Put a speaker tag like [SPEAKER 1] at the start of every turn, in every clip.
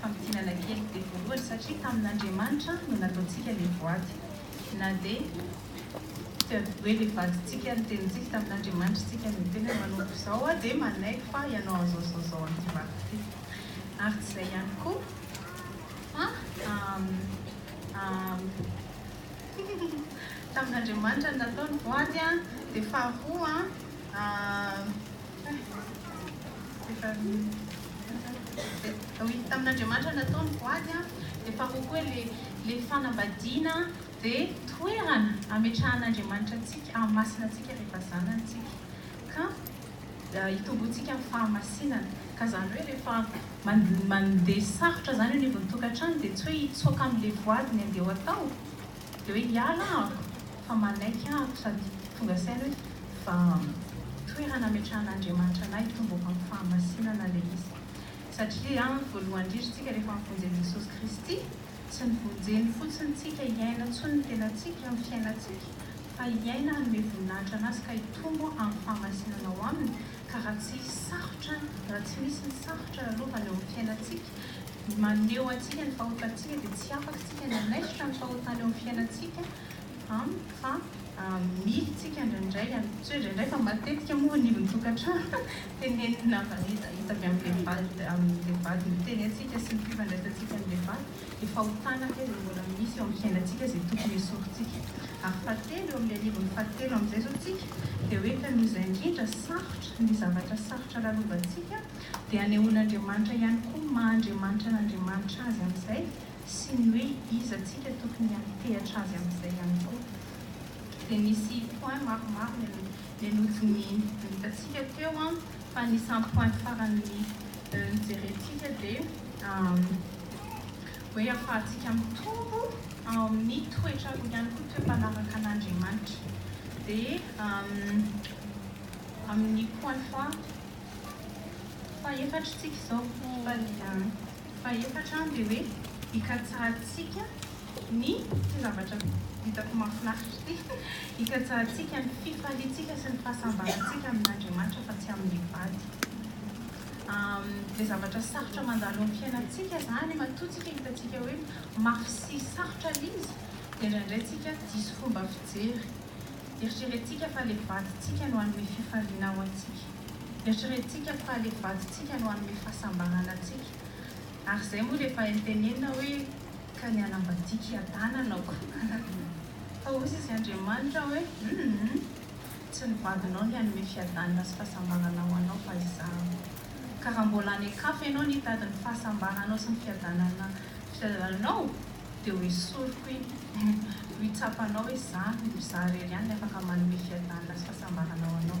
[SPEAKER 1] Famintinana kely dia voalohany satria tamin'Andriamanitra no nataontsika ilay boaty. Na dia tsy ady hoe ilay vadintsika ny tenintsika, tamin'Andriamanitra isika no tena manompo izao aho dia manaiky fa ianao an'izao izao izao an'ity vadiko ity. Ary tsy izay ihany koa fa tamin'Andriamanitra no natao ny boaty dia faharoa tamin'Andriamanitra natao ny voady an, dia fahamoko hoe le le fanambadiana dia toerana ametrahan'Andriamanitra antsika hahamasina antsika rehefa zanany tsika ka hitomboantsika amin'ny fahamasinana ka zany hoe rehefa mandeha sarotra zany eo anivon'ny tokantrano dia tsy hoe hitsoaka amin'le voady ny andeha ho atao dia hoe hiala aho fa manaiky aho sady tonga saina hoe fa toerana ametrahan'Andriamanitra anay hitomboako amin'ny fahamasinana ilay izy. Satria voalohany indrindra isika rehefa mivonjen'i Jesosy Kristy, tsy nivonjeny fotsiny tsika hiaina intsony ny tenantsika amin'ny fiainantsika fa hiaina hanome voninahitra anazy ka hitombo amin'ny fahamasinana ao aminy ka raha tsy sarotra raha tsy misy ny sarotra lalovana eo amin'ny fiainantsika maneho antsika ny fahotantsika dia tsy afaka isika ny hanaisotra ny fahotana eo amin'ny fiainantsika Am, fa mily tsika indraindray an, tsy hoe indraindray fa matetika moa ny ivon'ny tokantrano tenenin'ny namana izy, hita avy amin'ny vehivavy, amin'ny vehivavy ny tenentsika sy ny fifandraisantsika amin'ny vehivavy dia fahotana ve izay mbola misy eo amin'ny fiainantsika izay tokony hesorintsika. Ary fahatelo, eo amin'ilay anivon'ny fahatelo amin'izay izao tsika dia hoe ka noho izay indrindra sarotra ny zavatra sarotra lalovantsika dia anehoan'Andriamanitra ihany koa maha Andriamanitra an'Andriamanitra azy amin'izay sy ny hoe iza tsika tokony hampitehatra azy amin'izay ihany koa. Dia nisy point maromaro le nodinihiny nitatsika teo an, fa anisan'ny point farany nijerentsika dia hoe hafahantsika mitombo ao amin'ny toetra roa ihany koa, toe-panaraka an'Andriamanitra. Dia amin'ny point faha fahefatra tsika izao. Fahefatra an dia hoe ikatsahantsika ny, ity zavatra hitako mahafinaritra ity, ikatsahantsika ny fifaliantsika sy ny fahasambarantsika amin'Andriamanitra fa tsy amin'ny vady. Dia zavatra sarotra mandalo amin'ny fiainantsika izany matoa tsika hitantsika hoe mafy sy sarotra ilay izy dia indraindray tsika diso fomba fijery. Eritreretintsika fa ilay vadintsika no hanome fifaliana ho antsika. Eritreretintsika fa ilay vadintsika no hanome fahasambarana antsika. Ary izay moa dia efa entenenina hoe, Ka ny hanambadiako hiadanana aho. Fa hoy sisa Andriamanitra hoe, Humm! Tsy ny vadinao ny hanome fiadanana sy fahasambarana ho anao fa Izaho. Ka raha mbola any an-kafa ianao no hitady ny fahasambaranao sy ny fiadanana fiadananao, dia ho esoriko iny. Ho hitsapanao hoe Izaho, Izaho irery ihany no afaka manome fiadanana sy fahasambarana ho anao.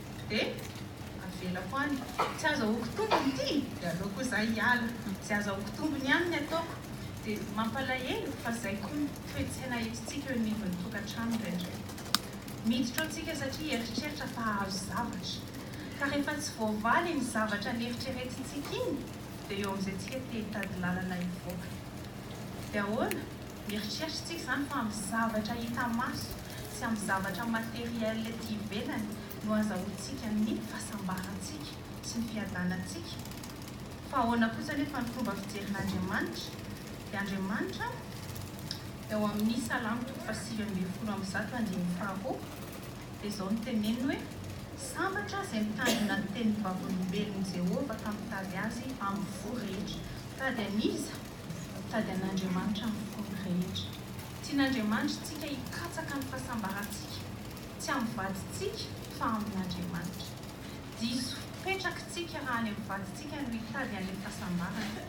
[SPEAKER 1] de avelako any, tsy azahoako tombony ity de aleoko za hiala, ze azahoako tombony ihany ny ataoko, de mampalahelo fa zay koa ny toe-tsaina entintsika eo anivon'ny tokantrano indraindray, miditra ao tsika satria hieritreritra fa hahazo zavatra, ka rehefa tsy voavaly iny zavatra neritreretintsika iny de eo amizay tsika te hitady lalana hivoaka, de ahoana? mieritreritra tsika zany fa amin'ny zavatra hita maso Tsy amin'ny zavatra matériel ety ivelany no azahoantsika ny fahasambarantsika sy ny fiadanantsika, fa ahoana kosa anefa ny fomba fijerin'Andriamanitra? Dia Andriamanitra eo amin'ny Salamo toko fahasivy ambin'ny folo amby zato andininy faharoa dia izao no teneniny hoe, Sambatra izay mitandrina ny tenin'ny Vavolombelon'i Jehovah ka mitady azy amin'ny fo rehetra. Mitady an'iza? Mitady an'Andriamanitra amin'ny fony rehetra. Tian'Andriamanitrtsika hikatsaka ny fahasambarantsika, tsy amin'ny vadintsika fa amin'Andriamanitra. Diso fipetraktsika raha any amin'ny vadintsika no hitady an'ilay fahasambarana,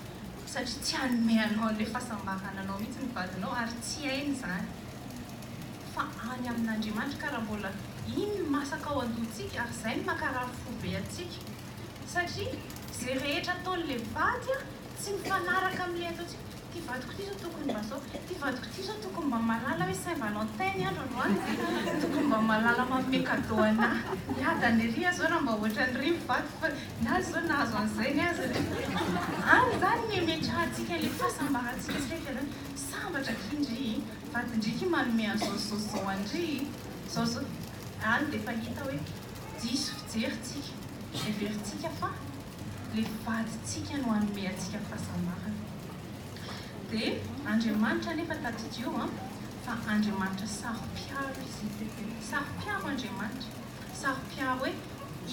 [SPEAKER 1] satria tsy hanome anao an'ilay fahasambarana anao mihitsy ny vadinao ary tsy hainy izany, fa any amin'Andriamanitra. Ka raha mbola iny no masaka ao an-dohantsika, ary izay no mankarary fo be antsika, satria izay rehetra ataon'ilay vady tsy mifanaraka amin'ilay ataontsika, Ty vadiko ty zao tokony mba zao, ty vadiko ty zao tokony mba mahalala hoe Saint Valentin ny andro androany dia tokony mba mahalala manome cadeau anah, hiadany ery aho zao raha mba ohatran'ny rivy vadiko fa ny azy zao nahazo an'izay ny azy re. Any izany no imetrahantsika ilay fahasambarantsika saika izany, sambatra akia ndry i vadin-dry ity manome an'izao sy zao sy zao an-dry i, zao zao, any dia efa hita hoe diso fijery tsika, heverintsika fa. le vadintsika no hanome antsika fahasambarana de Andriamanitra anefa tadidio an fa Andriamanitra saro-piaro izy saro-piaro Andriamanitra saro-piaro hoe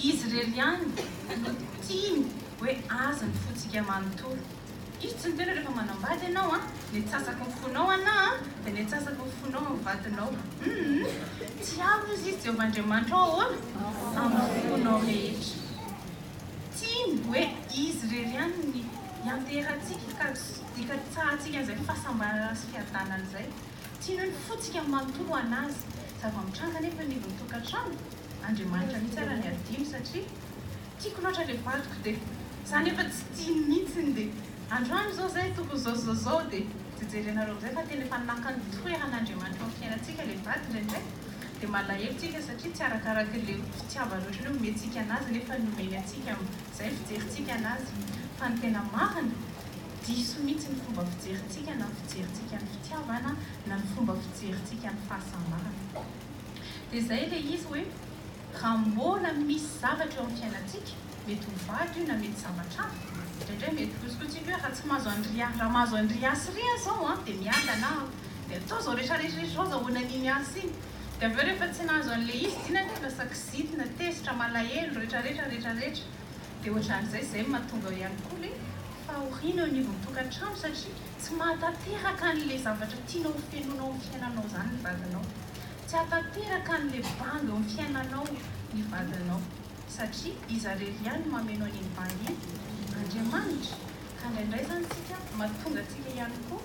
[SPEAKER 1] izy irery ihany no tiany hoe azy ny fontsika manontolo itsy ny tena rehefa manambady ianao an ny atsasaky ny fonao ana an de ny atsasaky ny fonao amin'ny vadinao hum tiaro izy izy Jehovah Andriamanitra ao ahoana amin'ny fonao rehetra Tiany hoe izy irery ihany ny hianteherantsika ka hikatsahantsika an'izay fahasambarana sy fiadanana izay. Tiany hoe ny fontsika manontolo ho an'Azy. Zava-mitranga anefa ny ivon'ny tokantrano, Andriamanitra mihitsy ary ny hadino satria tiako loatra ilay vadiko dia za nefa tsy tiany mihitsy dia androany izao izay tokony izao izao izao dia jejerenareo amin'izay fa tena efa naka ny toeran'Andriamanitra eo amin'ny fiainantsika ilay vady indraindray. Dia malahelo tsika satria tsy arakaraky le fitiavany ohatry ny hoe omentsika anazy nefa ny omeny antsika zay ny fijerintsika anazy. Fa ny tena marina, diso mihitsy ny fomba fijerintsika na ny fijerintsika ny fitiavana na ny fomba fijerintsika ny fahasambarana. Dia zay le izy hoe raha mbola misy zavatra eo amin'ny fiainantsika, mety ho vaky io na mety zavatra hafa. Indraindray mety kosikotsiko hoe raha tsy mahazo an'i Ry A, raha mahazo an'i Ry A sy Ry A zao an, dia miadana aho. Dia atao izao rehetra rehetra rehetra izao azahoana an'iny asa iny. Dia avy eo rehefa tsy nahazo an'ilay izy dia iny anie lasa kizitina, tezitra, malahelo, rehetra rehetra rehetra rehetra. Dia ohatran'izay, izay no mahatonga ihany koa ilay fahoriana eo anivon'ny tokantrano satria tsy mahatanteraka an'ilay zavatra tianao ho fenoina ao amin'ny fiainanao izany ny vadinao. Tsy hahatanteraka an'ilay banga eo amin'ny fiainanao ny vadinao. satria izarery ihany no mameno an'iny bandy iny, Andriamanitra, ka indraindray izany isika mahatonga antsika ihany koa,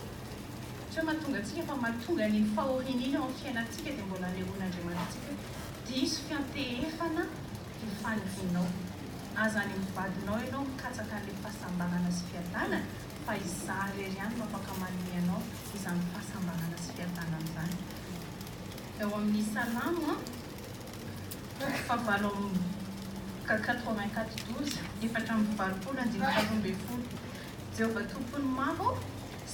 [SPEAKER 1] tsy hoe mahatonga antsika fa mahatonga an'iny fahoriana iny eo amin'ny fiainantsika dia mbola anehoan'Andriamanitra antsika hoe diso fiantehefana ity fanirianao, aza any amin'ny vadinao ianao mikatsaka an'ilay fahasambarana sy fiadanana fa Izaho irery ihany no afaka manome anao izany fahasambarana sy fiadanana izany, eo amin'ny Salamo a. Toko fahavalo amby kk quatre-vingt-quatre douze efatra amby valopolo andinitra roa ambin'ny folo Jehovah Tompon'ny maro ô,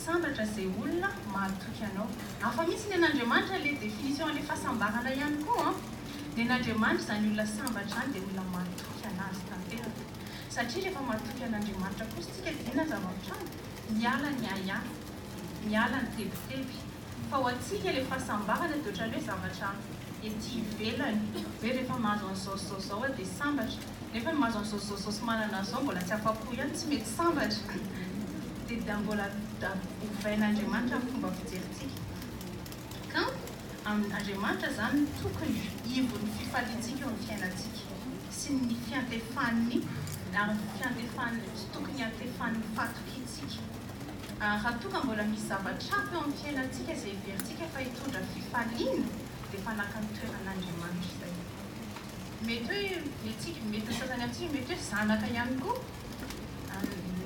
[SPEAKER 1] sambatra izay olona mahatoky Anao. Hafa mihitsy nen'Andriamanitra le définition le fahasambarana ihany koa an! Nen'Andriamanitra izany olona sambatra izany dia olona mahatoky an'Azy tanteraka. Satria rehefa mahatoky an'Andriamanitra kosa isika dia inona ny zava-mitranga? Miala ny ahiahy, miala ny tebiteby, Fa ho antsika ilay fahasambarana dia ohatran'ny hoe zavatra ety ivelany, hoe rehefa mahazo an'izao sy izao izao aho dia sambatra, nefa ny mahazo an'izao sy izao izao sy manana an'izao mbola tsy afa-po ihany, tsy mety sambatra. Dia mbola ovain'Andriamanitra ny fomba fijerintsika. Kanto, Andriamanitra izany no tokony ivon'ny fifaliantsika eo amin'ny fiainantsika sy ny fiantefan'ny, ary ny fiantefan'ny, tokony hiantefan'ny fahatokiantsika. ary raha toa ka mbola misy zavatra hafa eo amin'ny fiainantsika izay heverintsika fa hitondra fifaliana dia efa naka ny toeran'Andriamanitra izay. Mety hoe ny antsika, mety ny sasany amintsika mety hoe zanaka ihany koa,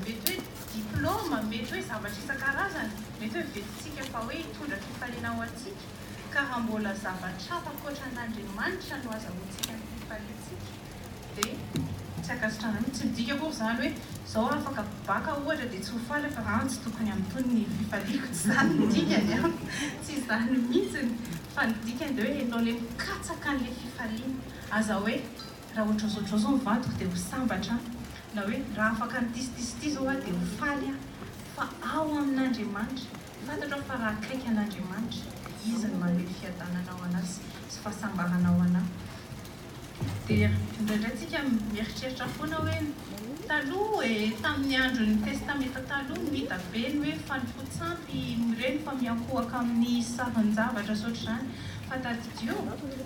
[SPEAKER 1] mety hoe diplaoma, mety hoe zavatra isan-karazany, mety hoe vetsintsika fa hoe hitondra fifaliana ho antsika, ka raha mbola zavatra hafa ankoatra an'Andriamanitra no azahoantsika ny fifaliantsika, dia tsy ankasitrahana mihitsy. Tsy midika akory izany hoe izao raha afaka baka ohatra dia tsy ho faly aho fa tsy tokony hamintohina ny fifaliako, tsy izany ny dikany an! tsy izany mihitsy fa ny dikany dia hoe enao ilay mikatsaka an'ilay fifaliana, aza hoe raha ohatr'izao ohatr'izao izao ny vadiko dia ho sambatra aho, na hoe raha afaka an'itysitys ity izao aho dia ho faly aho, fa ao amin'Andriamanitra, fantatro aho fa raha akaiky an'Andriamanitra dia Izy no manome fiadanana ho an'ahy sy fahasambarana ho an'ahy. Dia indraindray tsika mieritreritra foana hoe taloha e, tamin'ny andron'ny Testamenta Taloha no hita be ny hoe fanifotsampy ireny fa miankohoka amin'ny sarin-javatra sy ohatr'izany fa tadidio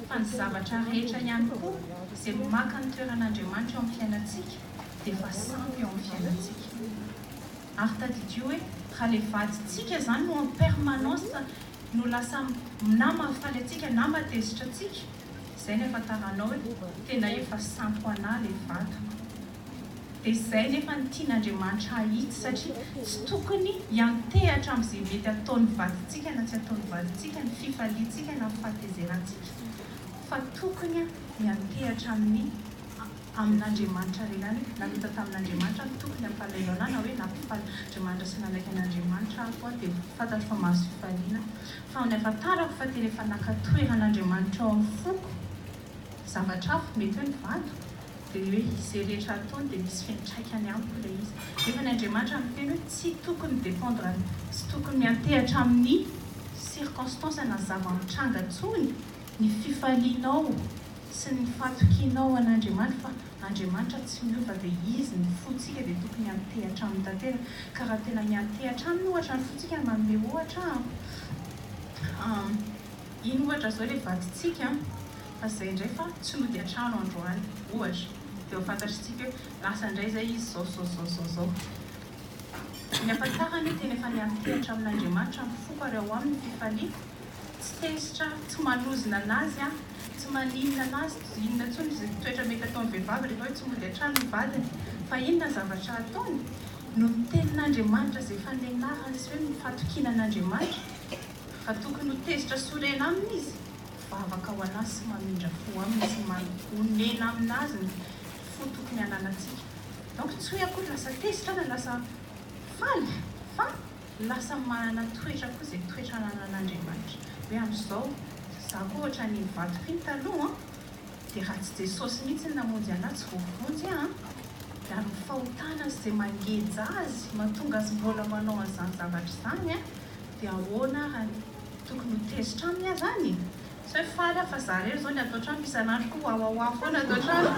[SPEAKER 1] fa ny zavatra rehetra ihany koa izay maka ny toeran'Andriamanitra eo amin'ny fiainantsika dia efa sampy eo amin'ny fiainantsika ary tadidio hoe raha ilay vadintsika izany no en permanence no lasa na mahafaly antsika na mahatezitra antsika Zay ny afantaranao e, tena efa sampo anah le vadiko. Dia zay nefa ny tian'Andriamanitra hahitsy satria tsy tokony hiantehatra am'zay mety ataon'ny vadintsika na tsy ataon'ny vadintsika ny fifaliantsika na ny fahatezerantsika fa tokony hiantehatra amin'ny amin'Andriamanitra lehilahy hoe namita tamin'Andriamanitra aho tokony hampalahelo anah na hoe nampifaly Andriamanitra sy nanaiky an'Andriamanitra aho koa dia fantatro fa mahazo fifaliana fa amin'ny hafantarako fa tena efa naka toeran'Andriamanitra ao amin'ny foko zavatra hafa mety hoe ny vadiko dia ny hoe izay rehetra ataony dia misy fiantraikany amiko ilay izy nefa ny Andriamanitra miteny hoe tsy tokony dépendre amin'ny tsy tokony miantehatra amin'ny circonstance na zava-mitranga intsony ny fifalianao sy ny fahatokianao an'Andriamanitra fa Andriamanitra tsy miova dia Izy ny fontsika dia tokony hantehatra aminy tanteraka ka raha tena miantehatra aminy ohatra ny fontsika manome ohatra aho iny ohatra izao ilay vadintsika fa izay indray fa tsy nody an-trano androany ohatra dia ho fantatrintsika hoe lasa indray izay izy izao izao izao izao izao ny afa-tsarany tena efa niantehatra amin'Andriamanitra ny foko ary ao aminy ny fifaliako Tsy tezitra, tsy manozona anazy an, tsy maninona anazy, tsy inona intsony izay toetra mety ataon'ny vehivavy rehefa hoe tsy mody an-trano ny vadiny. Fa inona ny zavatra ataony? Noho ny tenin'Andriamanitra izay efa nenahany sy hoe ny fatokiana an'Andriamanitra, fa tokony ho tezitra sy orena aminy izy, mivavaka ho anazy sy mamindra fo aminy sy manonena aminazy ny fo tokony hananantsika. Donc tsy hoe akory lasa tezitra na lasa faly fa. Lasa manana toetra koa izay toetra ananan'Andriamanitra. Hoe amin'izao, za koa ohatran'iny vato iny taloha an! Dia raha tsy Jesosy mihitsy ny namonjy anahy tsy voavonjy aho an! Dia amin'ny fahotana sy izay mangeja Azy mahatonga Azy mbola manao an'izany zavatra izany an! Dia ahoana ary no tokony ho tezitra aminy aho izany e? Sao efa faly aho fa za irery zao ny ato an-trano fa isan'andro koa wawawa foana ato an-trano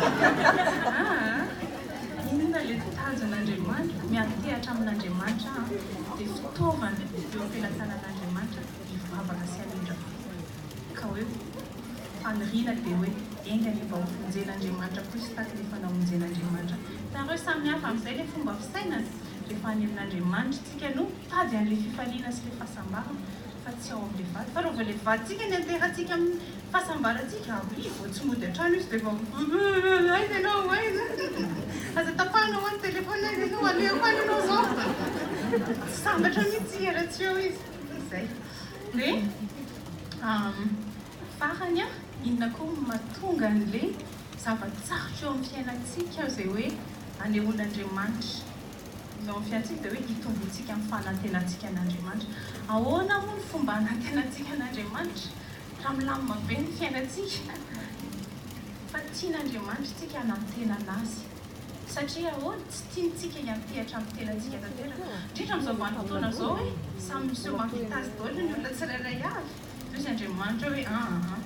[SPEAKER 1] aa! Inona le tanjon'Andriamanitra? Miantehatra amin'Andriamanitra aho dia fitaovana eo am-pelatanan'Andriamanitra hivavaka sy hamindra fo. Ka hoe faniriana dia hoe enga anie mba ho vonjen'Andriamanitra koa izy tahaka ny efa namonjen'Andriamanitra taloha. Samy hafa amin'izay le fomba fisainana rehefa hanelin'Andriamanitra isika no mitady an'le fifaliana sy le fahasambarana. fa tsy ao amin'ilay vady fa raha vao ilay vadintsika nianteharatsika amin'ny fahasambarantsika avia vao tsy mody an-trano izy dia vao uumm aiza ianao aiza uumm aza tapahana hoa ny téléphone aiza ianao alehako any ianao izao tsy sambatra mihintsy izy raha tsy eo izy izay dia uumm farany an inona koa no mahatonga an'ilay zava-tsarotra eo amin'ny fiainantsika izay hoe anehoan'Andriamanitra Izao ny fiainantsika dia hoe itomboantsika amin'ny fanantenantsika an'Andriamanitra. Ahoana moa ny fomba hanantenantsika an'Andriamanitra raha milamina be ny fiainantsika? Fa tian'Andriamanitra isika hanantenana Azy. Satria ahoana? Tsy tiantsika hiantehatra amin'ny tenantsika tanteraka. Indrindra amin'izao vanim-potoana izao hoe samy miseho mampita azy daholo ny olona tsirairay avy. Hoy Andriamanitra hoe, Aa.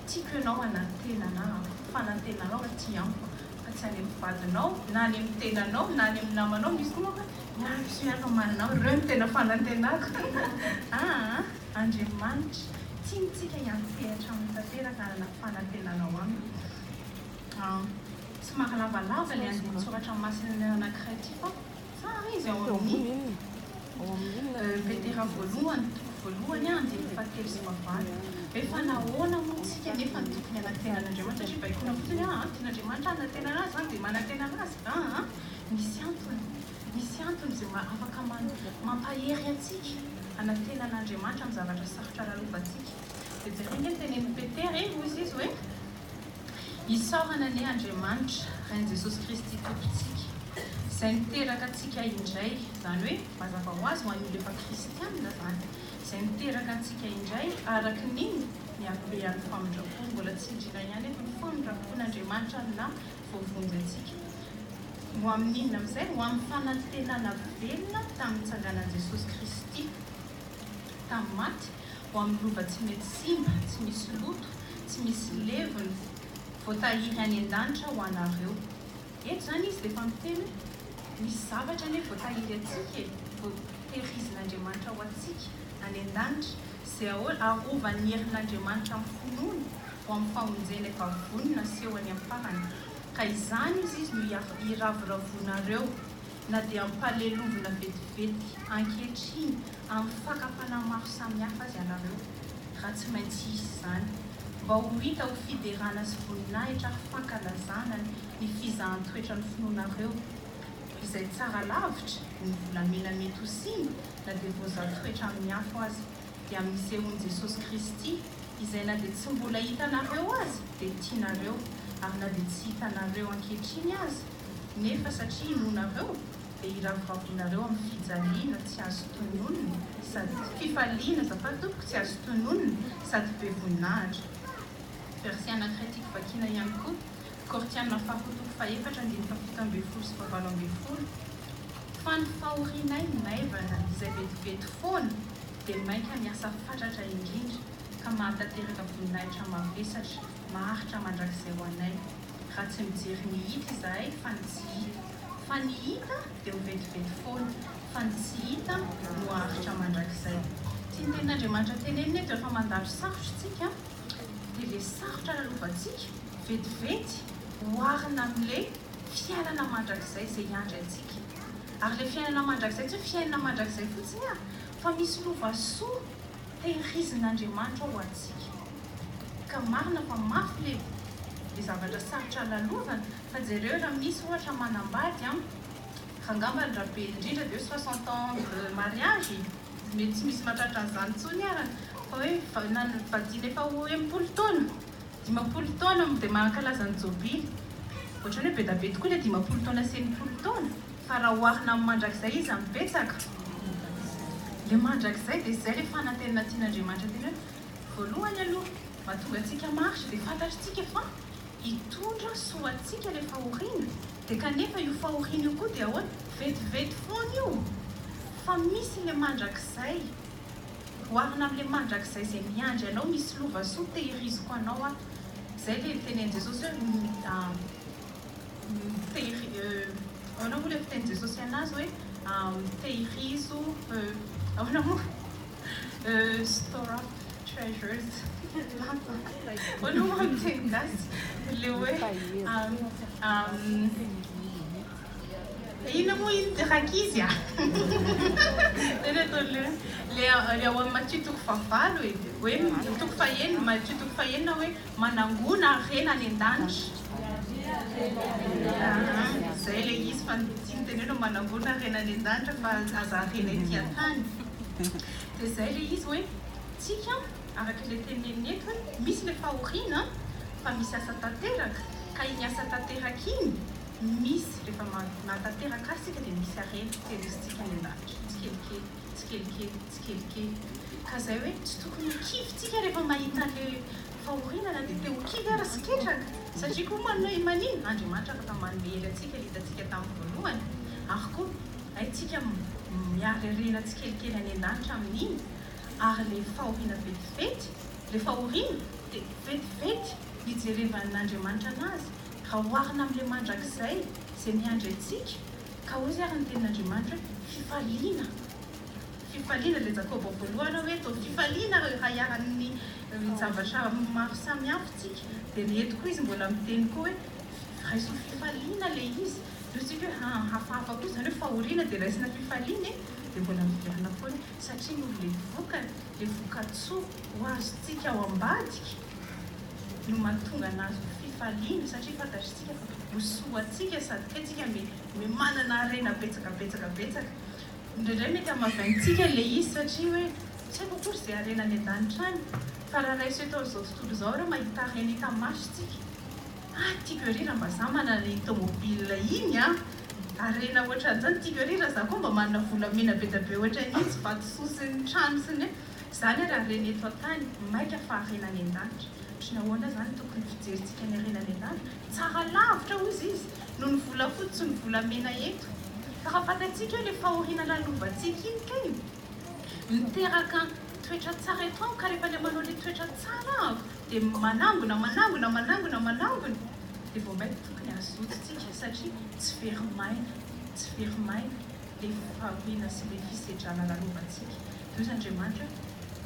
[SPEAKER 1] Tiako ianao hanantenana aho, fanantenanao aho aty amiko fa tsy any amin'ny vadinao na any amin'ny tenanao na any amin'ny namanao, misy koa manko hoe miaraka hiaraka amanao, ireo no tena fanantenako aa! Andriamanitra tiantsika hiantsehatra aminy tanteraka hanana fanantenana ao aminy aa! Somary lavalava ny andinin-tsoratra masina anankiray ity fa. Tsara izy ao amin'ny Petera voalohany, toko voalohany, andininy fahatelo sy fahavalo. Hoe fa nahoana moa isika anefa no tokony hanantena an'Andriamanitra? Satria baikoina fotsiny hoe, aa, tian'Andriamanitra aho hanantena azy, aho dia manantena azy. Aa, misy antony. Misy antony izay afaka mampahery antsika hanantena an'Andriamanitra amin'ny zavatra sarotra lalovantsika. Dia jereo ange ny tenenin'i Petera e, hoy izy hoe. Isaorana anie Andriamanitra Rain'i Jesosy Kristy Tompontsika izay niteraka antsika indray, izany hoe mazava ho azy ho an'ny olona efa kristianina izany, izay niteraka antsika indray araka ny iny ny habehan'ny famindrampony, mbola tsindriana ihany eto ny famindrampon'Andriamanitra aminà voavonjy antsika. Ho amin'inona amin'izay? Ho amin'ny fanantenana velona tamin'ny nitsanganan'i Jesosy Kristy tamin'ny maty, ho amin'ny lova tsy mety simba, tsy misy loto, tsy misy levony, voatahiry any an-danitra ho anareo. Eto izany izy dia efa miteny hoe, Misy zavatra anie voatahiry antsika e, voatehirizin'Andriamanitra ho antsika any an-danitra, izay arovan'ny herin'Andriamanitra amin'ny finoana ho amin'ny famonjena efa vonona haseho any amin'ny farany. Ka izany hozy izy no iravoravoanareo, na dia ampalelovina vetivety ankehitriny, Amin'ny fakam-panahy maro samihafa aza ianareo raha tsy maintsy hisy izany mba ho hita ho fiderana sy voninahitra ary fankalazana ny fizahan-toetran'ny finoanareo izay tsara lavitra ny volamena mety ho simba na dia voazaha toetra amin'ny afo aza dia amin'ny sehoan'i Jesosy Kristy izay na dia tsy mbola hitanareo aza dia tianareo ary na dia tsy hitanareo ankehitriny aza nefa satria inoanareo dia iravoravinareo amin'ny fijaliana tsy azo tononina sady fifaliana azafady tompoko tsy azo tononina sady be voninahitra. Verset anankiray tiako vakiana ihany koa, Kortiana faharoa toko fahefatra andininy fahafito ambin'ny folo sy fahavalo ambin'ny folo, Fa ny fahorianay maivana izay vetivety foana dia mainka miasa fatratra indrindra ka mahatanteraka voninahitra mavesatra maharitra mandrakizay ho anay. Raha tsy mijery ny hita izahay fa ny tsy hita. Fa ny hita dia mivetivety foana, fa ny tsy hita no haharitra mandrakizay. Tsy ny tenin'Andriamanitra tenenina eto rehefa mandalo sarotra isika dia le sarotra lalovantsika vetivety oharina amin'le fiainana mandrakizay izay hiandry antsika. Ary le fiainana mandrakizay tsy hoe fiainana mandrakizay fotsiny an! Fa misy lova soa Tehirizin'Andriamanitra ho antsika. Ka marina fa mafy le le zavatra sarotra lalovana fa jereo raha misy ohatra manambady an, fa angamba ny raha be indrindra ve soixante ans de mariage e? mety tsy misy mahatratra an'izany intsony arany fa hoe vadiana efa ho enimpolo taona Dimampolo taona mo de mankalaza ny jobily? Ohatrany hoe bedabedy koa le dimampolo taona sy enimpolo taona fa raha oharina amin'ny mandrakizay iza no betsaka? Le mandrakizay de zay le fanantenana tian'Andriamanitra tena hoe voalohany aloha mahatonga antsika maharitra de fantatritsika fa hitondra soa antsika le fahoriana de kanefa io fahoriana io koa de ahoana? Vetivety foana io fa misy le mandrakizay. Oharina amin'ilay mandrakizay izay miandry anao misy lova soa tehiriziko anao aho izay ilay fitenin'i Jesosy hoe ahoana moa ilay fitenin'i Jesosy anazy hoe tehirizo ahoana moa store up treasures ahoana moa amin'ny teny gasy ilay hoe Inona moa iny ty rankizy a? Zay le ataony le hoe le ao amin'ny Matio toko fahavalo e, hoe toko fahenina, Matio toko fahenina hoe manangona harena any an-danitra. Aa zay le izy fa ny tiany tenena manangona harena any an-danitra fa aza harena ety an-tany. Dia zay le izy hoe tsika araka ilay teneniny eto hoe misy le fahoriana fa misy asa tanteraka ka iny asa tanteraka iny misy rehefa manatanteraka azy isika dia misy harena terroristika any an-danitra tsikelikely tsikelikely tsikelikely ka izay hoe tsy tokony ho kivy isika rehefa mahita an'ilay fahoriana na dia te ho kivy aza sy ketraka satria koa manome manin Andriamanitra afaka manome hery antsika ilay hitantsika tamin'ny voalohany ary koa haintsika miary harena tsikelikely any an-danitra amin'iny ary ilay fahoriana vetivety ilay fahoriana dia vetivety hijerevan'Andriamanitra anazy Raha oharina amin'ilay mandrakizay izay miandry antsika, ka hoy ary ny tenin'Andriamanitra hoe, fifaliana. Fifaliana, ilay Jakoba voalohany hoe toa fifaliana ary raha iharan'ny zavatra maro samihafa isika, dia ny eto koa izy mbola miteny koa hoe raiso fifaliana ilay izy. Ny antsika hoe haa hafahafa kosa, izany hoe fahoriana dia raisina fifaliana e! dia mbola miverina foana satria noho ilay vokany, ilay voka-tsoa ho azontsika ao ambadika. no mahatonga ny azy ho fifaliana satria fantatritsika fa ho soa antsika sady koa tsika me manana harena betsaka betsaka betsaka indraindray mety hamavaintsika le izy satria hoe tsy haiko akory ze harena any an-danitra any fa raha raiso eto amizao tontolo izao ireo mahita harena hita maso tsika ah tiako ery raha mba za manana iny tomobile iny an harena otran'izany tiako ery raha za koa mba manana volamena bedabe otran'iny sy vato soa sy ny trano sy ny Zany ary harena eto an-tany maika fa harena any an-danitra. Otriny ahoana zany ny tokony fijerintsika ny harena any an-danitra? Tsara lavitra hozy izy noho ny volafotsy sy ny volamena eto. Fa raha fantatsika eo le fahoriana lalovantsika iny kay miteraka toetra tsara eto amiko ka rehefa le manao le toetra tsara aho de manangona manangona manangona manangona de vao maika tokony hazotontsika satria tsy very maina tsy very maina le fahoriana sy le fisedrana lalovantsika Deus Andriamanitra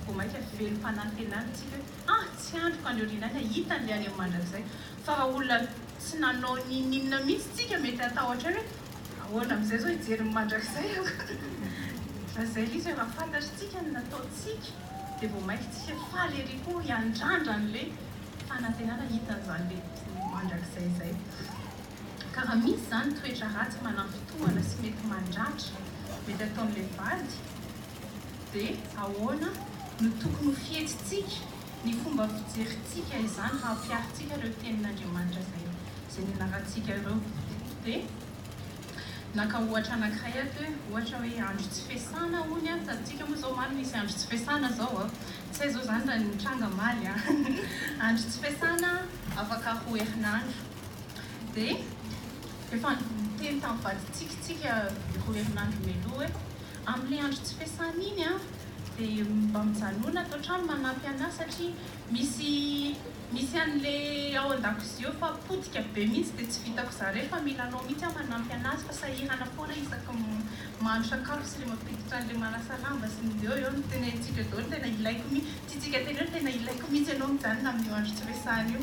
[SPEAKER 1] vao maika velom-panantenana isika hoe ah tsy andriko andry aoriana any ahitany le any amin'ny mandrakizay fa raha olona tsy nanao n'inon'inona mihitsy tsika mety hatahotra hoe ahoana amin'izay zao hijery ny mandrakizay aho fa zay lzy raha fantatr'tsika ny nataontsika de vao maika tsika faly ery koa hiandrandra an'le fanantenana hitan'zany le mandrakizay zay. Ka raha misy izany toetra ratsy mananfitohana sy mety mandratra mety ataon'ilay vady dia ahoana no tokony ho fihetsintsika, ny fomba fijerintsika izany raha ampiharintsika ireo tenin'Andriamanitra izay izay nianarantsika ireo. Dia naka ohatra anankiray ato hoe ohatra hoe andro tsy fiasana hono an, hitantsika moa izao omaly misy andro tsy fiasana izao an, tsy hay izao izany raha ny mitranga omaly an, andro tsy fiasana afaka roa herinandro. Dia efa niteny tamin'ny vadintsika isika roa herinandro mialoha hoe amin'ilay andro tsy fiasana iny dia mba mijanona ato an-trano manampy an'ahy satria misy misy an'ilay ao an-dakozia eo fa potika be mihitsy dia tsy vitako zaraina fa mila anao mihitsy aho manampy an'azy fa sahirana foana isaky ny mahandro sakafo sy ilay mampiditra an'ilay manasa lamba sy ny eo eo no tenenintsika daholo ny tena ilaiko mihitsy, tiantsika teneno ny tena ilaiko mihitsy ianao mijanona amin'io andro tsy fiasana io.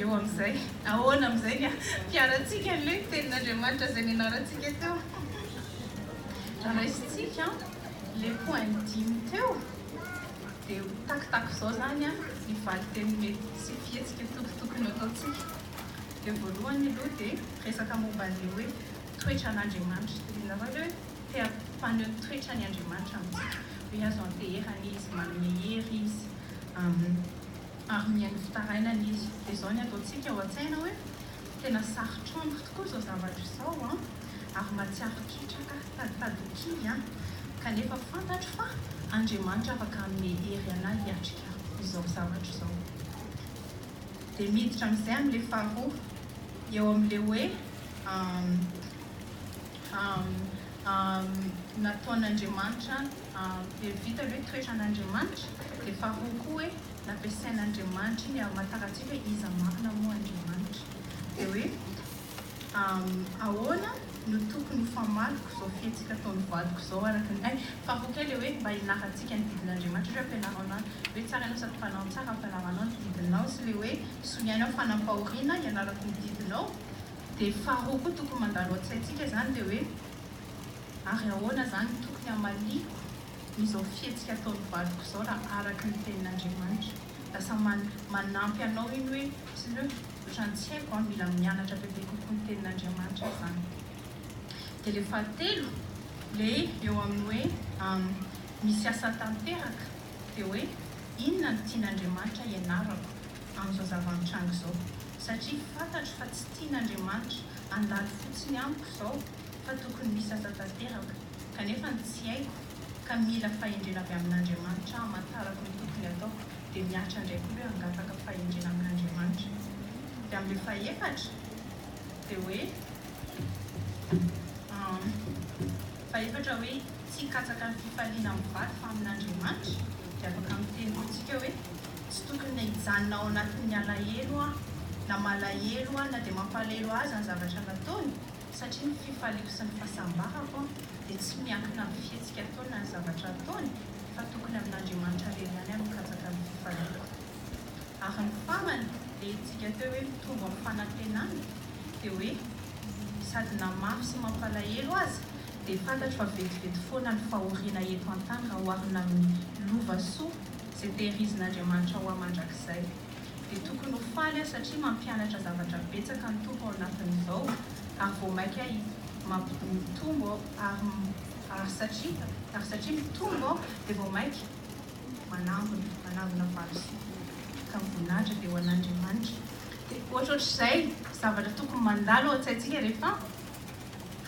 [SPEAKER 1] Eo amin'izay, ahoana amin'izay ny ampiharantsika an'ilay Tenin'Andriamanitra izay nianarantsika teo? Raha raisintsika ilay point dimy teo, dia ho takotako izao izany ny valin-teny mety sy fihetsika tokotokony hataontsika. Dia voalohany aloha dia resaka momba an'ilay hoe toetran'Andriamanitra. Tadiavinareo ve hoe te-hampaneho ny toetrany Andriamanitra amintsika? Hoe azo anteherana Izy, manome hery Izy. ary mihaino fitarainana izy, dia izao ny ataontsika ao an-tsaina hoe, tena sarotra amiko tokoa izao zavatra izao an, ary mahatsiaro ketraka, taditady ho kivy an, kanefa fantatro fa Andriamanitra afaka hanome hery anah hiatrika izao zavatra izao. Dia miditra amin'izay amin'ilay faharoa, eo amin'ilay hoe, Am, am, am, nataon'Andriamanitra Dia vita aloha hoe toeran'Andriamanitra, dia faharoa koa hoe nampiasain'Andriamanitra iny hamantaran tsika hoe iza marina moa Andriamanitra. Dia hoe ahoana no tokony ho famariko izao fietsika ataon'ny vadiko izao araka ny hay. Faharoa koa ilay hoe mba hianarantsika ny didin'Andriamanitra ohatra hoe ampianaro anao hoe tsara ianao sady mpanao ny tsara ampianaro anao ny didinao sy ilay hoe soniany aho fanampahoriana hianarako ny didinao. Dia faharoa koa tokony mandalo an-tsaintsika izany dia hoe. Ary ahoana zany no tokony hamaliako izao fihetsika ataon'ny vadiko izao raha araka ny tenin'Andriamanitra? Lasa manampy anao iny hoe pneu, otrany tsy haiko an, mila mianatra bebe kokoa ny tenin'Andriamanitra izany. Dia le fahatelo, le eo amin'ny hoe misy asa tanteraka, dia hoe inona no tian'Andriamanitra hianarako amin'izao zava-mitranga izao? Satria fantatro fa tsy tian'Andriamanitra handalo fotsiny amiko izao fa tokony misasa tanteraka, kanefa ny tsy haiko ka mila fahendrena avy amin'Andriamanitra hamantarako ny tokony ataoko dia mihatra indray koa hoe hangataka fahendrena amin'Andriamanitra. Dia amin'ilay fahefatra dia hoe fahefatra hoe tsy hikatsaka ny fifaliana amin'ny vady fa amin'Andriamanitra dia afaka miteny koa tsika hoe tsy tokony hijanona ao anatin'ny alahelo aho na malahelo aho na dia mampalahelo ahy aza ny zavatra nataony satria ny fifaliako sy ny fahasambarako dia tsy miankina amin'ny fihetsika ataony na ny zavatra ataony fa tokony amin'Andriamanitra irery ihany no mikatsaka ny fifaliako. Ary ny farany, ilay hetsika teo hoe mitombo amin'ny fanantenana dia hoe sady na mafy sy mampalahelo aza dia fantatro fa vetivety foana ny fahoriana eto an-tany raha oharina amin'ny lova soa izay tehirizin'Andriamanitra ho ahy mandrakizay. dia tokony ho faly aho satria mampianatra zavatra betsaka ny Tompo ao anatin'izao ary vao maika mitombo aho ary ary satria ary satria mitombo aho dia vao maika manangona manangona valo sivy ka voninahitra dia ho an'Andriamanitra dia ohatrohatr'izay zavatra tokony mandalo ao an-tsaintsika rehefa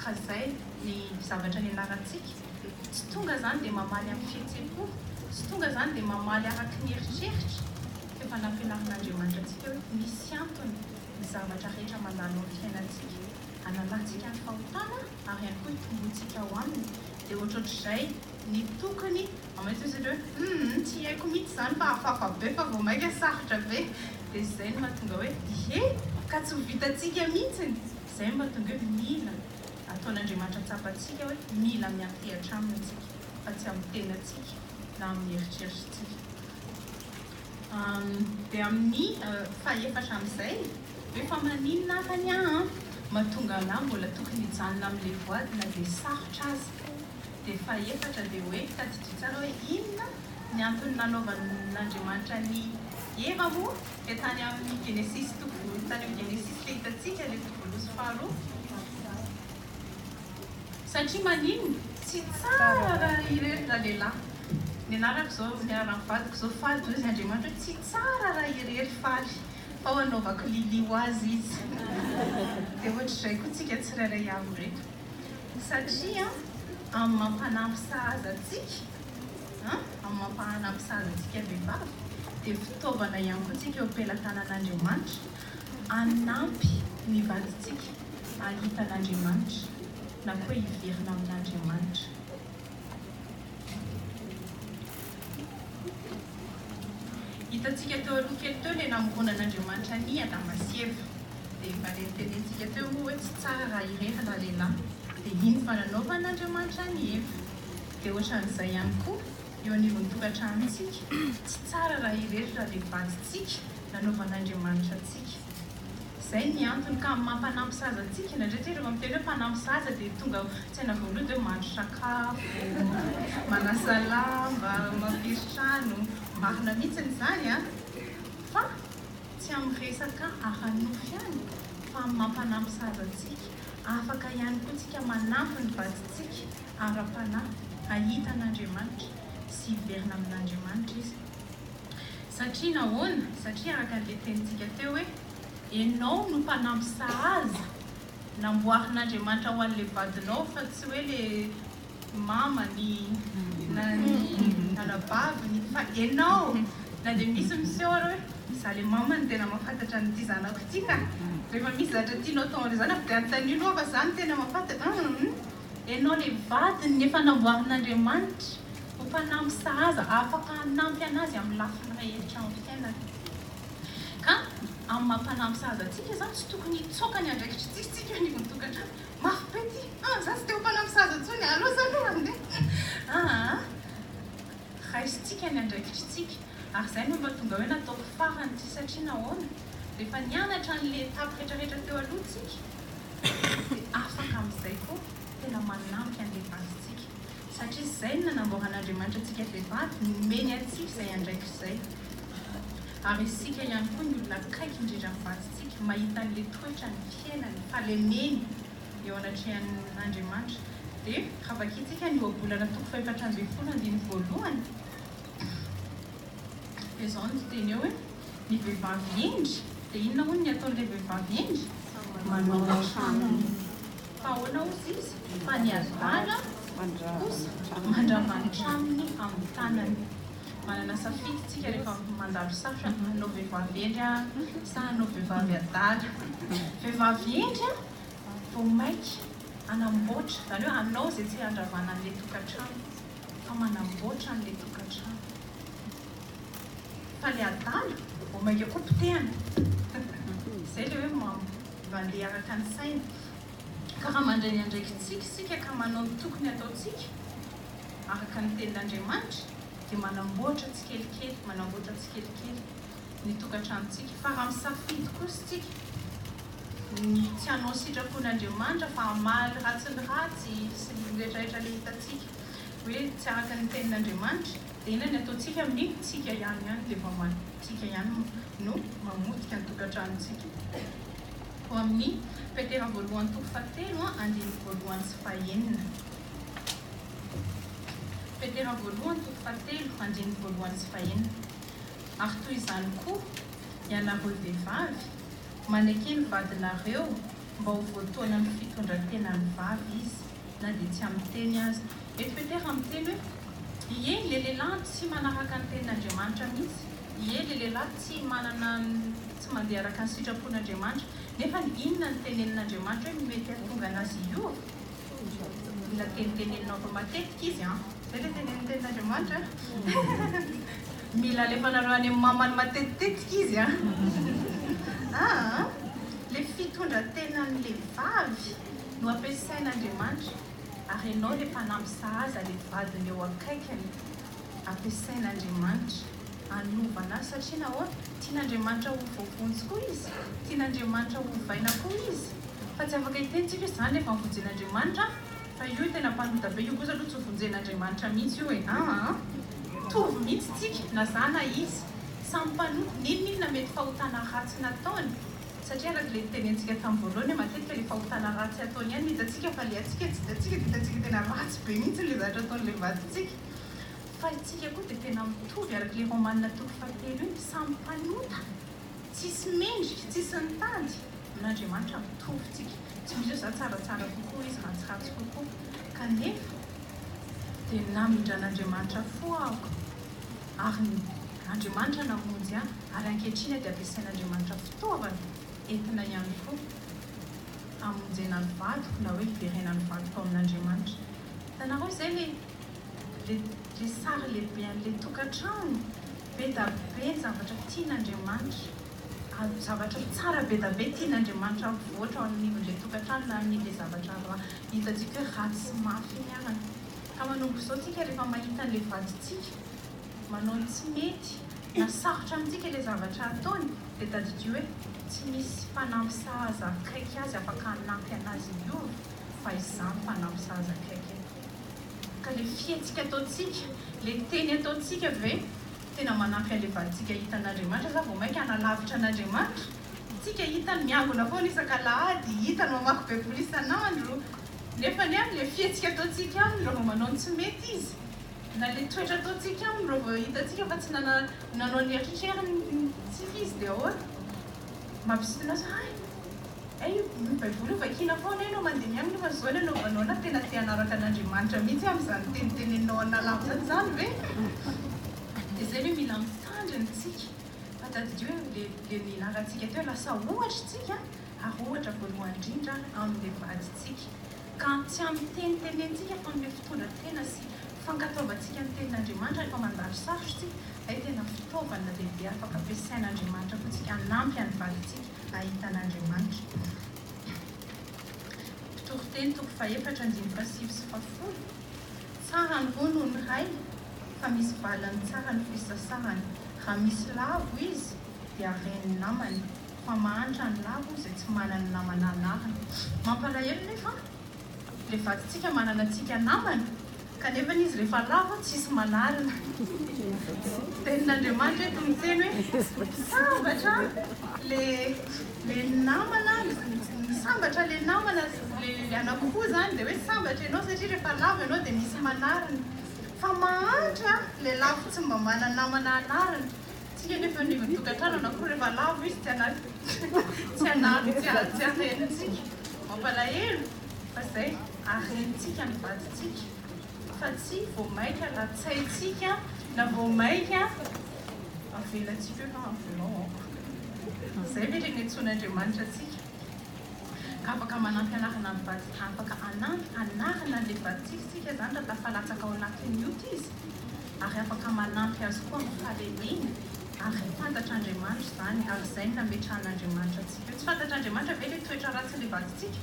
[SPEAKER 1] Fa zay ny zavatra nianarantsika, tsy tonga zany dia mamaly amin'ny fihetsem-po, tsy tonga zany dia mamaly araky ny eritreritra, f'efa nampianarin'Andriamanitra antsika hoe misy antony ny zavatra rehetra mandalo amin'ny fiainantsika, analantsika ny fahotana ary ihany koa itomboantsika ao Aminy, dia ohatrohatr'izay ny tokony hamainty isika hoe humm tsy haiko mihitsy izany fa hafahafa be fa vao maika sarotra be, dia zay no mahatonga hoe ie ka tsy ho vitantsika mihitsy ny. Izay no mahatonga hoe mila ataon'Andriamanitra tsapantsika hoe mila miantehatra Aminy isika fa tsy amin'ny tenantsika na amin'ny eritreritritsika. Dia amin'ny fahefatra amin'izay, hoe fa maninona ary anie aho an, mahatonga an'ahy mbola tokony hijanona amin'ilay voady na dia sarotra aza. Dia fahefatra dia hoe, tadidio tsara hoe inona ny antony nanaovan'Andriamanitra an'i Eva moa? dia tany amin'ny Genesisy toko voalo tany amin'ny Genesisy dia hitantsika ilay voaloha faharoa satria manino tsy tsara raha irery ralehilahy ny anarako izao ny anaran'ny vadiko izao faly dia hoy izy Andriamanitra hoe tsy tsara raha irery faly fa ho anaovako lily ho azy izy dia ohatr'izay koa tsika tsirairay avy ireto satria amin'ny mampanampy sahaza antsika amin'ny mampahana amin'ny sazy antsika vehivavy dia fitaovana ihany koa tsika eo am-pelatanan'Andriamanitra hanampy ny vadintsika hahita an'Andriamanitra na koa hiverina amin'Andriamanitra. Hitantsika teo aloha kely teo ilay namorona an'Andriamanitra an'i Adama sy Eva dia efa nentenintsika teo moa hoe tsy tsara raha irery raha lehilahy dia iny fa nanaovan'Andriamanitra an'i Eva. Dia ohatran'izay ihany koa eo anivon'ny tokantranontsika, tsy tsara raha irery raha dia vadintsika nanaovan'Andriamanitra antsika. Izay ny antony ka amin'ny maha mpanampy zaza antsika, indraindray dia rehefa miteny hoe mpanampy zaza dia tonga ao an-tsaina voalohany dia hoe mahandro sakafo, manasa lamba, mampiry trano, marina mihitsy izany an! fa tsy amin'ny resaka ara-nofo ihany fa amin'ny maha mpanampy zaza antsika, afaka ihany koa tsika manampy ny vadintsika ara-panahy hahita an'Andriamanitra sy hiverina amin'Andriamanitra izy. Satria nahoana? Satria araka an'ilay tenintsika teo hoe, Ianao no mpanampy sahaza namboarin'Andriamanitra ho an'ilay vadinao fa tsy hoe ilay mamany na ny anabaviny fa ianao. Na dia misy miseho ary hoe, Izaho ilay mamany tena mahafantatra an'ity zanako ity ka! Rehefa misy zavatra tianao atao amin'ilay zanako dia anontanio aloha fa izaho no tena mahafantatra. Humm. Ianao ilay vadiny efa namboarin'Andriamanitra ho mpanampy sahaza afaka hanampy an'azy amin'ny lafiny rehetra amin'ny fiainany. Ka amin'ny maha mpanampy sahaza antsika izany tsy tokony hitsoaka ny andraikitry Jiosy tsika eo anivon'ny tokantrano. Mafy be ity ah! Za tsy te ho mpanampy sahaza intsony, aleo za aloha handeha ah! Raisintsika ny andraikitry tsika ary izay no mba tonga hoe nataoko farany ity satria nahoana? Rehefa nianatra an'ilay étape retraretra teo aloha tsika, dia afaka amin'izay koa tena manampy an'ilay vadintsika, satria izay no nanamboaran'Andriamanitra antsika vehivavy, nomeny antsika izay andraikitra izay, ary isika ihany koa, ny olona akaiky indrindra ny vadintsika, mahita an'ilay toetrany, fiainany, fahalemeny eo anatrehan'Andriamanitra, dia raha vakintsika ny Ohabolana toko fahefatra ambin'ny folo andininy voalohany, dia izao no fiteny eo hoe. Ny vehivavy hendry? Dia inona hono ny ataon'ilay vehivavy hendry? Manao ny tranony. Fa ahoana hozy izy? Fa ny adala kosa mandrava ny tranony amin'ny tanany. Manana safidy isika rehefa mandalo sarotra, hanao vehivavy hendry aho sa hanao vehivavy adala? Vehivavy hendry aho vao mainka hanamboatra, izany hoe hanao izay tsy handravana an'ilay tokantrano, fa manamboatra an'ilay tokantrano. Fa le adala vao mainka koa potehana. Izay le hoe mandeha araka ny saina. Ka raha mandray ny andraikitsika isika ka manao ny tokony hataontsika araka ny tenin'Andriamanitra dia manamboatra tsikelikely manamboatra tsikelikely ny tokantranontsika. Fa raha misafidy kosa isika ny tsy hanao ny sitrapon'Andriamanitra fa hamaly ny ratsy ny ratsy sy ny retraretra le hitantsika hoe tsy araka ny tenin'Andriamanitra, Inona ny ataontsika amin'ny tsika ihany ihany dia vao man tsika ihany no mamotika ny tokantranontsika? Ao amin'ny Petera voalohany toko fahatelo andininy voalohany sy fahenina Petera voalohany toko fahatelo andininy voalohany sy fahenina Ary toy izany koa, ianareo vehivavy, maneke ny vadinareo mba ho voatoanan'ny fitondran-tenan'ny vavy izy, na dia tsy amin'ny teny aza, Mety petera miteny hoe, Ie le lehilahy tsy manaraka ny tenin'Andriamanitra mihitsy, ie le lehilahy tsy manana tsy mandeha araka ny sitrapon'Andriamanitra. Nefa inona no tenenin'Andriamanitra hoe mety hahatonga anazy hiova? Mila teniteneninao fa matetika izy an! Zay le tenenin'ny tenin'Andriamanitra an! Mila alefanareo any amin'ny mamany matetitetika izy an! Aa! Le fitondran-tenan'ilay vavy no ampiasain'Andriamanitra. Ary ianao le mpanampy sahaza le vadiny eo akaikiny ampiasain'Andriamanitra anovana azy satria nahoana tian'Andriamanitra ho voavonjy koa izy tian'Andriamanitra ho ovaina koa izy fa tsy afaka hiteny tsika hoe zany le fanvonjen'Andriamanitra fa io tena mpanota be io kosa aloha tsy ho vonjen'Andriamanitra mihitsy io e aa mitovy mihitsy tsika na za na izy samy mpanota ninoninona mety fahotana ratsy nataony Satria araka ilay nitenentsika tamin'ny voalohany hoe matetika ilay fahotana ratsy ataon'ny an'ny hitantsika fa ilay antsika tsy hitantsika dia hitantsika tena ratsy be mihitsy ilay zavatra ataon'ilay vadintsika. Fa isika koa dia tena mitovy araka ilay Romanina toko fahatelo iny, samy mpanota, tsisy mendrika, tsisy nitady, amin'Andriamanitra mitovy isika, tsy misy hoe za tsaratsara kokoa izy ratsiratsy kokoa, kanefa dia namindran'Andriamanitra fo aho ary ny. Andriamanitra namonjy ahy ary ankehitriny dia ampiasain'Andriamanitra fitaovana entina ihany koa hamonjena ny vadiko na hoe hiverenany ny vadiko amin'Andriamanitra. Hitanareo izay le le le sary lehibe an'le tokantrano be da be ny zavatra tian'Andriamanitra avy zavatra tsara be da be tian'Andriamanitra avoatra ao anivon'le tokantrano na an'le zavatra ra hitantsika hoe ratsy mafy iny arany. Ka manomboka izao tsika rehefa mahita an'le vadintsika. manao ny tsy mety na sarotra amintsika ilay zavatra ataony dia tadidio hoe tsy misy mpanampy sahaza akaiky azy afaka hanampy anazy hiova fa izaho no mpanampy sahaza akaiky eto ka ilay fihetsika ataontsika ilay teny ataontsika ve tena manampy an'ilay vadintsika hahita an'Andriamanitra sa vao mainka hanalavitra an'Andriamanitra tsika hitany miangona foana isak'alahady hitany mamaky baiboly isan'andro nefa anie amin'ilay fihetsika ataontsika aminy raha vao manao ny tsy mety izy Na le toetra ataontsika aminy raha vao hitantsika fa tsy nanao ny eritreritreriny tsy fy izy dia ahoana? Mampisintona azy hoe hay! Hay io baiboly io vakiana foana eny ao mandeha ny aminy io fa zao ny anaovanao na tena te hanaraka an'Andriamanitra mihitsy aho amin'izany teniteneninao an'Allah amin'izany izany ve? Dia izay ve mila misandry antsika fa tadidio hoe le le nilaharantsika teo lasa ohatra isika ary ohatra voalohany indrindra amin'le vadintsika Ka tsy amitenitenentsika fa amin'ilay fitondran-tena sy fankatoavantsika ny Tenin'Andriamanitra rehefa mandalo sarotra isika, ilay tena fitaovana lehibe afaka ampiasain'Andriamanitra koa isika hanampy an'i vadintsika hahita an'Andriamanitra. Mpitoriteny toko fahefatra andininy fahasivy sy fahafolo, Tsara ny roa noho ny ray, fa misy valiny tsara ny fisasahany, raha misy lavo izy, dia ren'ny namany, fa mahantra ny lahy moa izay tsy manana ny namana anahany. Mampalahelo nefa ilay vadintsika manana antsika namana kanefa izy rehefa lavo tsisy manarina. Tenin'Andriamanitra eto miteny hoe misambatra le le namana misambatra le namana le le anankiroa zany dia hoe sambatra ianao satria rehefa lavo ianao dia misy manarina. Fa mahantra le lavo tsy mba manana namana anarina. Tsy heno eto anivon'ny tokantrano na koa rehefa lavo izy tsy hanary tsy hanary tsy harentsika. Mampalahelo fa izay harentsika ny vadintsika fa tsy vao maika latsaintsika na vao maika avelantsika eo fa avelao aho. Izay ve ireny antsoin'Andriamanitra antsika? Afaka manampy anarana ny vady afaka anampy anarana an'ilay vadintsika isika izany raha tafalatsaka ao anatin'ny ota izy ary afaka manampy azy koa amin'ny fahalemeny ary ry fantatr'Andriamanitra izany ary izay no nametrahan'Andriamanitra antsika eo tsy fantatr'Andriamanitra ve ilay toetra ratsin'ilay vadintsika?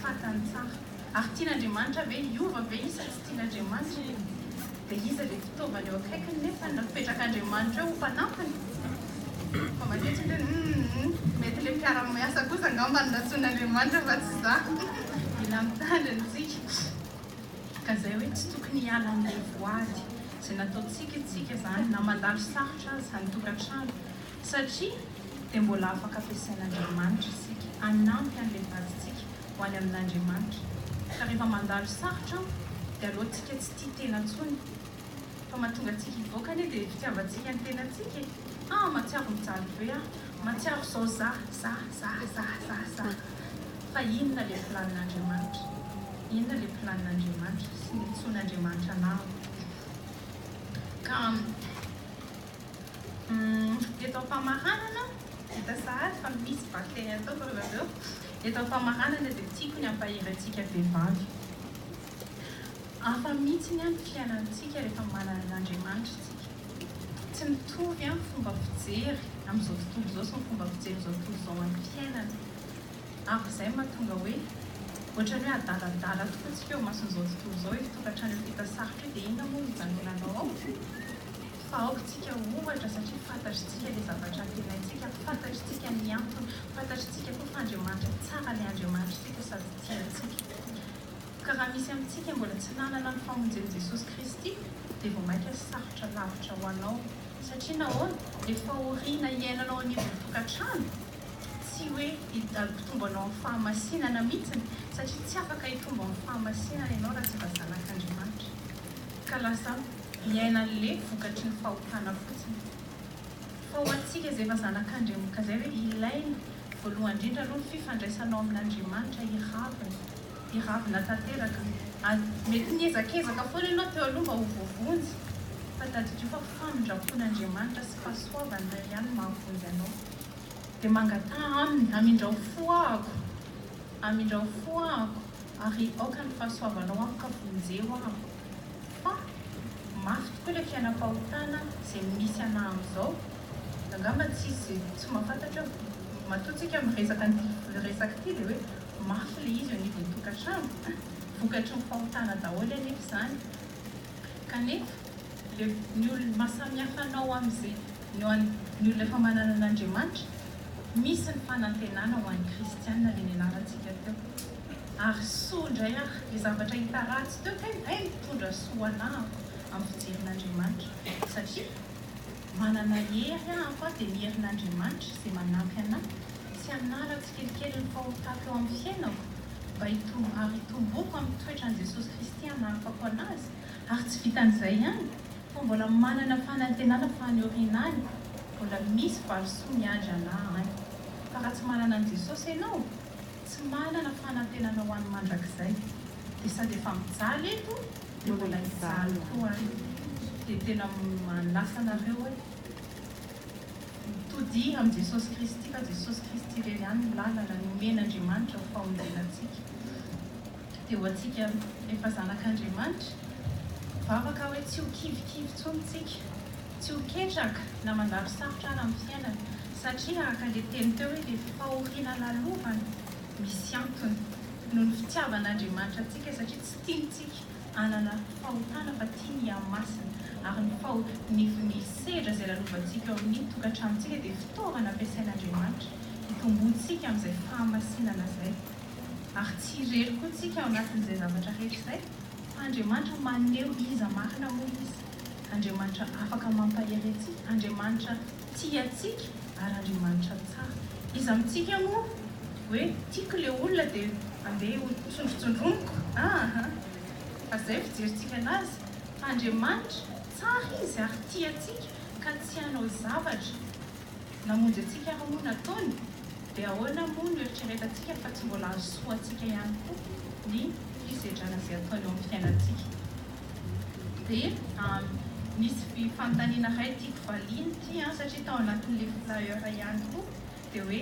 [SPEAKER 1] fantany tsara ary tian'Andriamanitra ve hiova ve izy sa tsy tian'Andriamanitra? Dia iza ilay fitaovana eo akaikiny nefa ny napetrak'Andriamanitra eo ho mpanampiny? Fa matetika dia humm mety ilay mpiara-miasa kosa angamba no nantsoin'Andriamanitra fa tsy za. Mila mitandrina isika. Ka izay hoe tsy tokony hiala amin'ny voady izay nataontsika isika izany na mandalo sarotra aza ny tokantrano. Satria dia mbola afaka ampiasain'Andriamanitra isika hanampy an'ilay vadintsika ho any amin'Andriamanitra. Ka rehefa mandalo sarotra aho dia aleontsika tsy tia tena intsony. Fa mahatonga antsika hivoaka anie dia fitiavantsika ny tenantsika e! Ah mahatsiaro mijaly be aho, mahatsiaro izao za, za, za, za, za, za. Fa inona ilay planin'Andriamanitra? Inona ilay planin'Andriamanitra sy ny antsoin'Andriamanitra anao? Ka. Eto am-pamaranana, hita sahady fa misy bakteria ataoko ry zareo. Eto am-pamaranana dia tiako ny hampahery antsika vehivavy. Hafa mihitsy ny fiainantsika rehefa manana an'Andriamanitra isika. Tsy mitovy ny fomba fijery amin'izao tontolo izao sy ny fomba fijerin'izao tontolo izao amin'ny fiainana. Ary izay no mahatonga hoe ohatran'ny hoe adaladala tokoa isika eo imason'izao tontolo izao. Io tokantrano efa hita sarotra io dia inona moa no hijanonanao ao? fa aoka isika ohatra satria fantatritsika ilay zavatra antenaintsika, fantatritsika ny antony, fantatritsika koa fa Andriamanitra tsara ilay Andriamanitrtsika sady tia antsika. Ka raha misy amintsika mbola tsy nanana ny famonjen'i Jesosy Kristy dia vao mainka sarotra lavitra ho anao. Satria nahoana? Ilay fahoriana iainanao anivon'ny tokantrano, tsy hoe hitombo anao amin'ny fahamasinana mihitsiny, satria tsy afaka hitombo amin'ny fahamasinana ianao raha tsy mba zanak'Andriamanitra, ka lasa. Miaina anle vokatry ny fahotana fotsiny. Fa ho antsika izay efa zanak'Andriamk izay ve ilaina voalohany indrindra aloha ny fifandraisanao amin'Andriamanitra hiravina, hiravina tanteraka. Ary mety niezakezaka foana ianao teo aloha mba ho voavonjy fa tadidio fa famindrampon'Andriamanitra sy fahasoavany iray ihany no mahavonjy anao. Dia mangataha aminy, amindrao fo ahako, amindrao fo ahako ary aoka ny fahasoavanao amiko ka vonjeo ahako. Fa mafy tokoa ilay fiainam-pahotana izay misy anah amin'izao. Angamba tsisy tsy mahafantatra eo. Matoa tsika miresaka an'ity resaka ity dia hoe mafy ilay izy eo anivon'ny tokantrano. Vokatry ny fahotana daholo anefa izany. Kanefa ilay ny olona, maha samihafa anao amin'izay, ny ho an'ny olona efa manana an'Andriamanitra, misy ny fanantenana ho an'ny kristiana ilay nianarantsika teo. Ary soa indray ary le zavatra hita ratsy teo tena hay mitondra soa ho anah aho amin'ny fijerin'Andriamanitra satria manana hery aho fa dia ny herin'Andriamanitra izay manampy anah tsy hanala tsikelikely ny fahotako eo amin'ny fiainako mba hitombo ary hitomboako amin'ny toetran'i Jesosy Kristy hanahafako anazy ary tsy vitan'izay ihany fa mbola manana fanantenana fa any aoriana any mbola misy valisoa miandry anah any fa raha tsy manana an'i Jesosy ianao Tsy manana fanantenana ho any mandrakizay dia sady efa mijaly eto dia mbola hijaly koa any dia tena manasa anareo hoe mitodiha amin'i Jesosy Kristy fa Jesosy Kristy irery ihany no lalana nomen'Andriamanitra ho fahonjenantsika. Dia ho antsika efa zanak'Andriamanitra, vavaka hoe tsy ho kivikivy intsony isika, tsy ho ketraka na mandalo sarotra àry amin'ny fiainana, satria araka ilay teny teo hoe ilay fahoriana lalovana, misy antony, noho ny fitiavan'Andriamanitra antsika, satria tsy tiany isika hanana fahotana fa tiany hihamasina, ary ny faho, ny, ny sedra izay lalovantsika eo amin'ny tokantranontsika dia fitaovana ampiasain'Andriamanitra hitomboantsika amin'izay fahamasinana izay. Ary tsy irery koa tsika ao anatin'izay zavatra rehetra izay, fa Andriamanitra maneho iza marina moa izy, Andriamanitra afaka mampahery antsika, Andriamanitra tia antsika ary Andriamanitra tsara. Iza amintsika moa hoe tiako ilay olona dia andeha ho tsondrotsondroniko ah ah, fa izay fijerintsika anazy, fa Andriamanitra tsara izy ary tia antsika ka tsy hanao zavatra. Namonjy antsika ary moa nataony, dia ahoana moa no eritreretantsika fa tsy mbola hahasoa antsika ihany koa ny fisedrana izay ataony eo amin'ny fiainantsika? Dia misy fanontaniana iray tiako valiana ity an, satria tao anatin'ilay flyer ihany koa, dia hoe